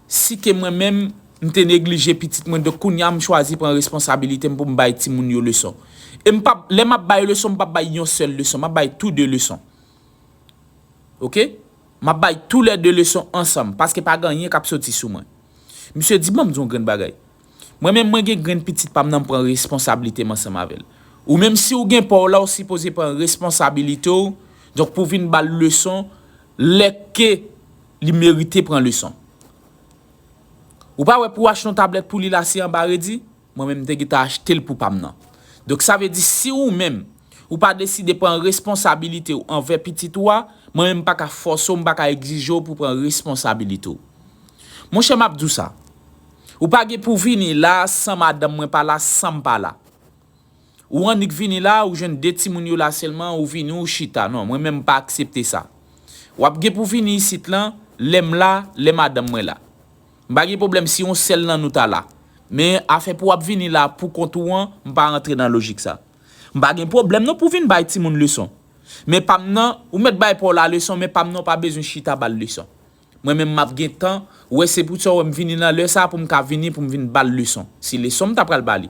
Si te mwen menm, m te neglije pitit mwen donk kounya m chwazi pran responsabilite m pou m bay timoun yo leson. E m pap, lè m ap bay leson m pap bay yon sèl leson, m ap bay tou de leson. Ok. M ap bay tou lè de leson ansanm paske pa gen anyen k ap soti sou mwen. Misye di ban m di w yon grenn bagay. Mwen menm mwen gen grenn pitit pa m nan m pran responsabilite m ansanm avè l. Ou menm si w gen pa w la w sipoze pran responsabilite w donk pou w vin ba l leson lè ke Li merite pran leson. Ou pa wè pou achte yon tablèt pou li la se anba redi? Mwen menm m te gentan achte l pou pa m nan. Donk sa vle di si ou menm ou pa deside pran responsabilite ou anvè pitit ou a, mwen menm m pa ka fòse w, m pa ka egzije w pou pran responsabilite w. Monchè m ap di w sa, ou pa gen pou vini la san madanm mwen pa la, san m pa la. Ou annik vini la ou jwenn 2 timoun yo la sèlman ou vini ou chita non mwen menm m pa aksepte sa wap gen pou vini isit lan lèm la lè madanm mwen la m pa gen pwoblèm si yon sèl nan nou ta la men afè pou wap vini la pou kont ou an m pa rantre nan lojik sa m pa gen pwoblèm non pou vin bay timoun leson men pam nan ou mèt bay paw la leson men pam nan ou pa bezwen chita bal leson. Mwen menm map gentan wè se pou tsa wè m vini nan lè sa pou m ka vini pou m vin ba l leson si leson m ta pral ba li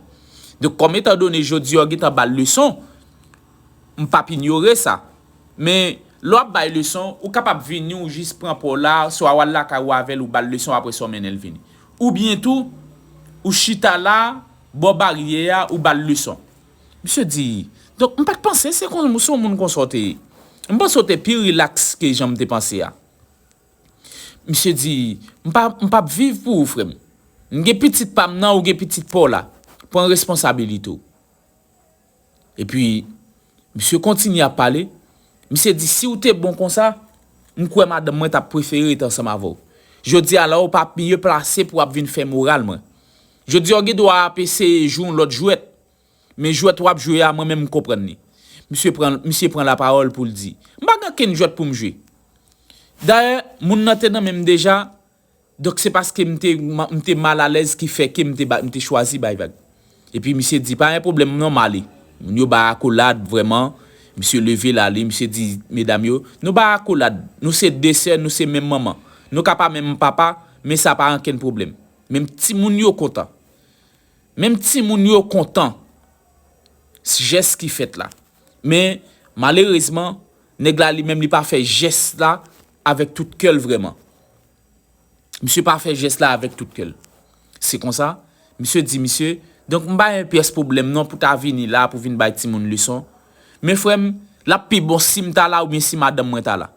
donk kòm etan done jodi a w gentan ba l leson m pap inyore sa men lè w ap bay leson ou kapab vini ou jis pran pa w la swa w al lakay ou avè l ou ba l leson aprè sa w mennen l vini oubyen tou ou chita la bò baryè a ou ba l leson. Misye di donk m pat panse se konsa se yon moun konsa w te ye m panse w te pi rilaks ke jan m te panse a. Misye di, M pa m pap viv pou ou frè m. M gen pitit pa m nan ou gen pitit pa w la. Pran responsabilite w. Epi, misye kontinye ap pale, misye di si w te bon konsa, m kwè madanm mwen t ap prefere ret ansanm avè w. Jodi a la ou pa miye plase pou w ap vin fè moral mwen. Jodi a ou gen dwa ap eseye jwe yon lòt jwèt. Men jwèt wap jwe a mwen menm m konprann li. Misye pran misye pran la parole pou l di. M pa gen okenn jwèt pou m jwe. Dayè moun nan te nan men m deja donk se paske m te m te mal alèz ki fè ke m te m te chwazi bay vag. Epi misye di pa gen pwoblèm non m ale. Moun yo bay akolad vrèman. Misye leve l ale misye di medam yo nou bay akolad nou se 2 sè nou se menm manman. Nou ka pa menm papa men sa pa ankenn pwoblèm. Menm timoun yo kontan. Menm timoun yo kontan jès ki fèt la. Men, malerezman, nèg la li menm li pa fè jès la avèk tout kè l vrèman. Misye pa fè jès la avèk tout kè l. Se konsa, misye di misye, donk m pa gen pyès pwoblèm non pou ta vini la pou vin bay timoun leson. Men frè m, l ap pi bon si m ta la oubyen si madanm mwen ta la.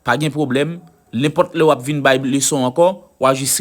Pa gen pwoblèm, nenpòt lè w ap vin bay leson ankò, w a jis.